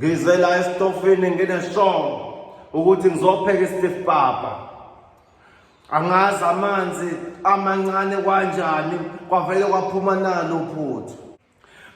ngize la esitofini ngineshomo ukuthi ngizopheka istif papa angazi amanzi amancane kwanjani kwavele kwaphuma nalo phuthu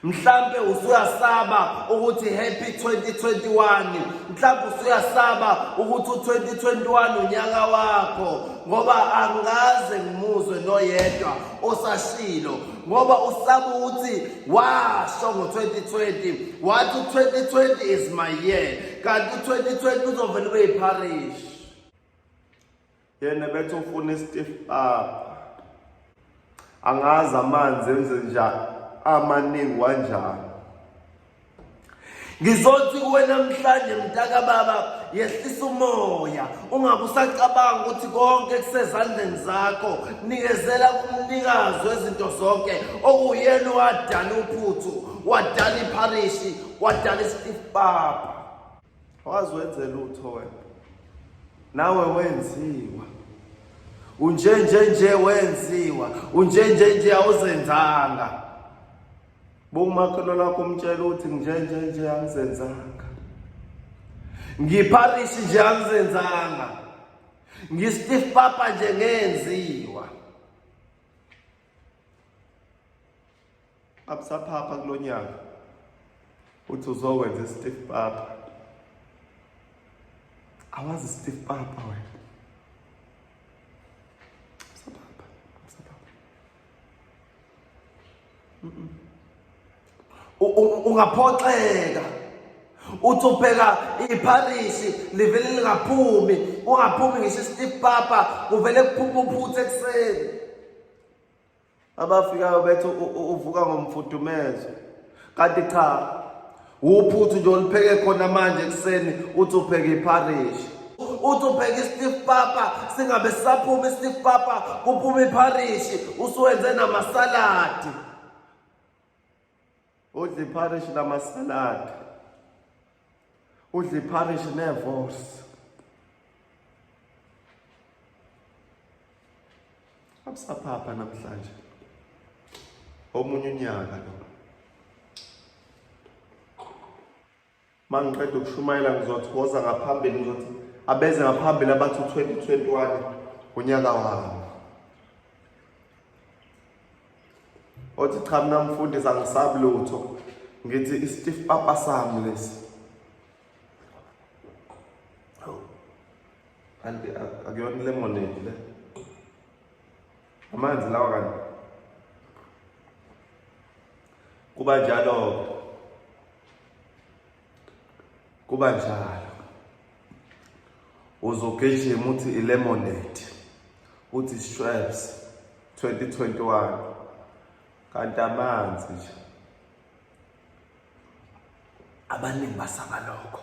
mhlambe usuyasaba ukuthi happy 2021 mhlambe usuyasaba ukuthi u2021 unyaka wakho ngoba angaze ngimuzwe noyedwa osashilo ngoba usaba ukuthi washo ngo-2020 wathi u-2020 is my year kanti u-2020 uzovele ube yiparish yena bethi ufuna istif up angazi amanzi enze njani amaningi wanjani ngizothi kuwe namhlanje mntaka baba yehlisa umoya ungabe usacabanga ukuthi konke kusezandleni zakho nikezela kumnikazi wezinto zonke okuyena wadala uphuthu wadala ipharishi wadala isitifu baba wazi wenze lutho wena nawe wenziwa unjenjenje wenziwa unjenjenje awuzenzanga Bomakhelwane wakho umtshela ukuthi njenje nje angizenzanga. Ngiparish nje angizenzanga. Ngistiff papa nje ngenziwa. Abusaphapha kulonyaka. Uthi uzokwenza istiff papa. Awazi stiff papa wena. ungaphoxeka uthi ubheka ipharisi livele lingaphumi ungaphumi ngisho isitip papa kuvele kuphuma uphuthe ekuseni abafikayo bethu uvuka ngomfudumezo kanti cha Uphuthu nje olupheke khona manje ekuseni uthi upheke ipharishi. Uthi upheke i-stiff papa singabe sisaphuma i-stiff papa kuphuma ipharishi usuwenze namasaladi. Udla ipharishi namasaladi. Udla ipharishi nevorsi. Abusaphapha namhlanje. Omunye unyaka lo. Mangiqeda ukushumayela ngizothi woza ngaphambili ngizothi abeze ngaphambili abathi 2021 unyaka wami. Othi cha mina mfundisi angisabi lutho. Ngithi i-stiff papa sami lesi. kanti akuyona lemonade le amanzi lawa kanti kuba njalo kuba njalo uzogijima uthi ilemonade uthi shreps 2021 kanti amanzi nje abaningi basaba lokho